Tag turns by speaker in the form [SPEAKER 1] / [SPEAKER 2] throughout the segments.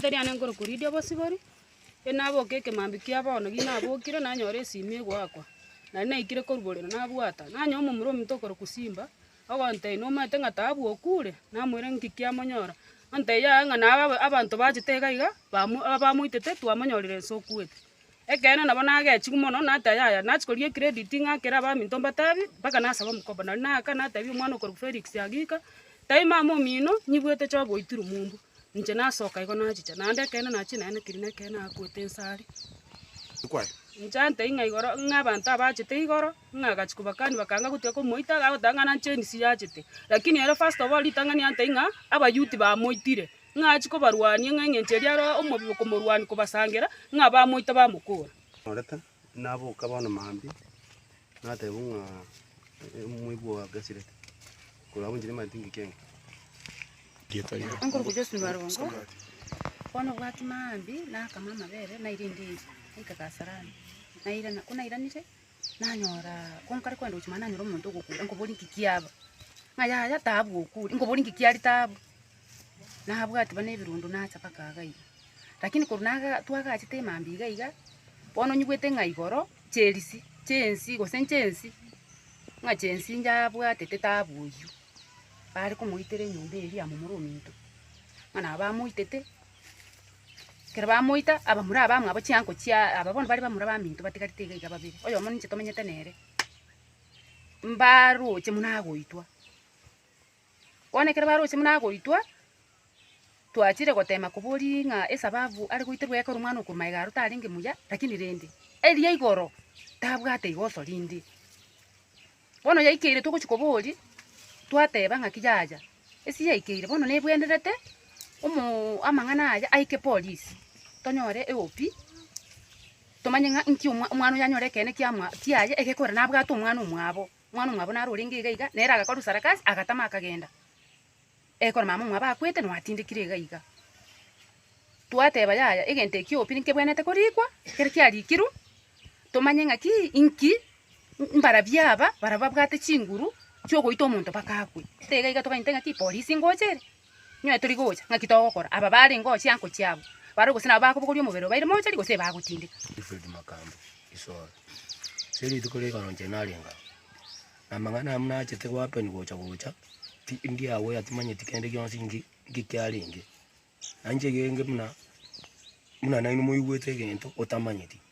[SPEAKER 1] Toriana enkoro koridia obosibori, inaboke ekemambia kia bono gi nabokire nanyora esimi egoakwa, naria naikire koruborera nabwata, nanyora omomura ominto okorokwa Simba, ogontebia nomanyete ng'a taabu okure? Namoira inki kiamonyora? Ontebia yaya ng'a naye abanto bachete iga iga bamoitete twamonyorire ense okuete. Ekeene nabo nagechigwe mono nate ayaya, nachia koria ecredit ng'akere abaminto mbatabi, mpaka nasaba omokobo. Nario naaka nateebia omwana okorokwa Felix agika, taiyo mama omino, nyibuete choo goitirwa mumbu. Inche nasoka igo nachicha, naende ekeene nachia naye na kirina ekeene agoeta ense aria. Inche antebi ng'a igoro ng'a abanto abachete igoro, ng'a agachia kobakani bakanga gotiga komoita, agoteba ng'a nare chensi yachete. Lakini ere first of all ritang'ani antebi ng'a abayouth bamoitire, ng'a achie kobarwania, ng'a engencho eria aroe omobe okomorwania kobasangera, ng'a bamoite bamokora. Orete,
[SPEAKER 2] naboka bono mambia, nateba ng'a omoibi ogo agasirete, korwa abunchire ime atingi kenge. Enkoruko
[SPEAKER 1] Josephine Warongo bono obwati mambia, nakama amabere naira endiri, naika Kasarani, nairana. Ko nairanire, nanyora ko nkare kogenda gochia, mambia nanyora omonto ogokura, nkoboria inki kiaba? Ng'a yaya taabu okure, nkoboria inki kiari taabu? Nabwati buna ebirundo nacha mpaka iga iga. Lakini korwa naga- twagachete emambia iga iga, bono nyigwete ng'a igoro chierisii, chiensii gose nchiensii, ng'a chiensii inche abwatete taabu oyio. Bare komoitera enyomba eye ria momura ominto, ng'a nabo bamoitete, ekero bamoita, abamura abamwabo chiango chia aba bono bare bamura baminto batigarete iga iga babere, oyomo ninche tomenyete nere, mbaroche buna agoitwa. Bono ekero baroche buna agoitwa, twachire goteema koboria ng'a esababu are goiterwa ekero Omwana-o-Okoroma iga arote arenge muya, lakini rende, eria igoro tabwate rigoso rinde. Bono yaikeire togochia koboria, twateeba ng'aki yaya, esi yaikeire, bono nebwenerete omoo amang'ana aya aike polisi, tonyore eOP, tomanye ng'a inki omwa omwana oyo anyore ekeene kiamwa kiaye egekorera nabwate omwana omwabo. Omwana omwabo naro orenge iga iga, nere agakorwa sarakasi, agatama akagenda. Ekero mama omwabo akwete, nwatindekire iga iga. Twateba yaya, egento ekio obi nkebwenete korikwa, ekero kiarikirwe, tomanye ng'a ki, inki, mbarabwo aba, barabwo babwate chinguru, chiogoita omonto mpaka akwe. Tiga iga togainte ng'a ki, polisi ngocha ere, Inwe tori gocha, ng'aki togokora? Aba barenge oo chiango chiabo barue gose nabo bakobogoria omobere obaire mochari gose ebagotindeka? Wilfred Makambi,
[SPEAKER 3] Isolo. Ase rituko rigana inche narenga aa, na amang'ana amu nachete gohappen gocha gocha, ti ndiagoya timanyeti kende gionsi nki nki kiarenge. Nainche genge buna buna nainwe moigwete egento otamanyeti.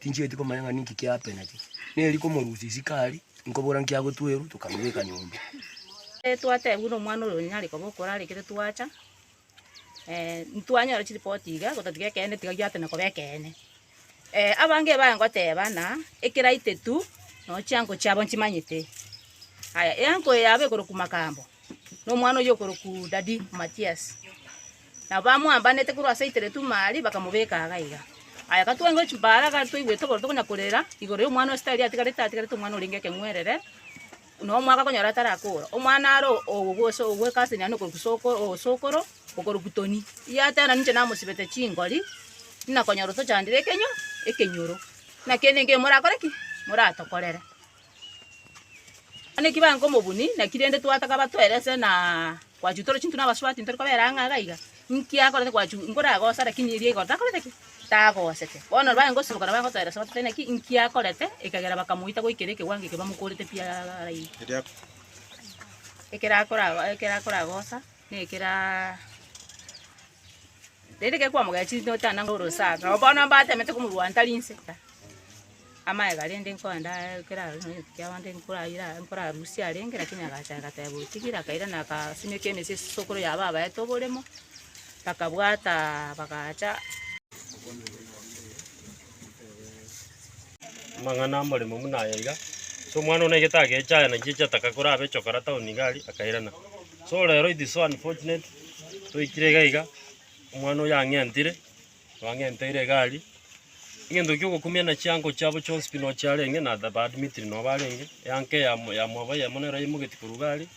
[SPEAKER 3] Tinchieti komanya ng'a ninki kiapenete. Neri komorusia isiko aria, inkobora nkiagotwerwa, tokamobeka nyomba. Twatebwa
[SPEAKER 4] nomwana oria onyare koba okorara ekero twacha, ntwanyora chiripoti iga, gotatiga ekeene tiga giatana koba ekeene. Abange baye ngoteba ng'a ekera itetu nonya chiango chiabo nchimanyete. Aya eango yabo ekorokwa Makambo, nomwana oyio okorokwa Daddy Matias. Nabo bamoambanete korwa ase eiteretu ime aria, bakamobeka agaiga. Aye gatwengwe chimbaara, gari toigwete oboronto konya korera, igoro y'omwana o Isiraeli atigarete, atigarete omwana orenge ekeng'werere, na omwaka okonyora atarakoora. Omwana are ogwekaseneria na okorukia soko, osokoro, okorukia toni. Yateba nainche namosibete chingori, inakonyora otochandire ekenywa, ekenyoro. Naki ere ningio morakore ki? Moratokorere. Onye kibaye nko mobuni naki rende twataka batwere ase na gwachu toro chinto na basubati ntori kobera ang'e iga iga, inki akorete gwachu nkore agosa lakini erio igoro takorete ki? Tagosete. Bono baye ngosimoka nabo agotera ase batebia naki inki akorete ekagera bakamoita goikera ekewango eke bamokorete pi araini. Ekero akora ekero akora agosa na ekero Rende ekero kwamogechirie note ang'e orosaro, nabo bono mbatemete komorwanta rinse. Amaega rende nkoenda ekero arenge na egento ki'abande nkoraire aa nkorarusie arenge lakini agacha agateba otigire akairana akasimeka emesi esisokoro ya babaito oboremo, bakabwata bagacha.
[SPEAKER 5] Amang'ana amoremo buna aya iga, So omwana one egete agecha aya nachi echi ataka kore abe chokora town iga aria, akairana. So rero it is so unfortunate, toikire iga iga, omwana oyo ang'entire, twang'enteire iga aria, egento kiogokumia na chiango chiabo chionsi pi nochiarenge na the ba admitiri nobarenge, eanka eyamo yamwabo eyemo nero yaimogetie korwa iga aria,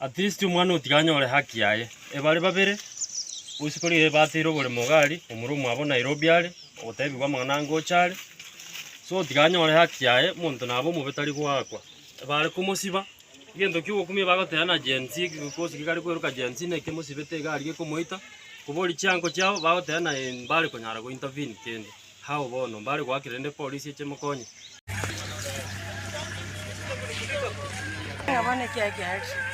[SPEAKER 5] At least omwana otiga anyore haki yaye. Ebare babere, bosi kore iga bateire oboremo iga ari, omura omwabo Nairobi are, ogotebigwa amang'ana angocha are. So otiga anyore haki yaye, omonto nabe omobe tari goakwa. Ebare komosiba, egento kia ogokumia bagoteba na Gen Z gose gekare kweroka Gen Z naki emosibete iga aria gekomoita, koboria chiango chiabo, bagoteba na eh mbare konyara go intervene kende. How bono? Mbare goakera rende epolisi eche emokonye?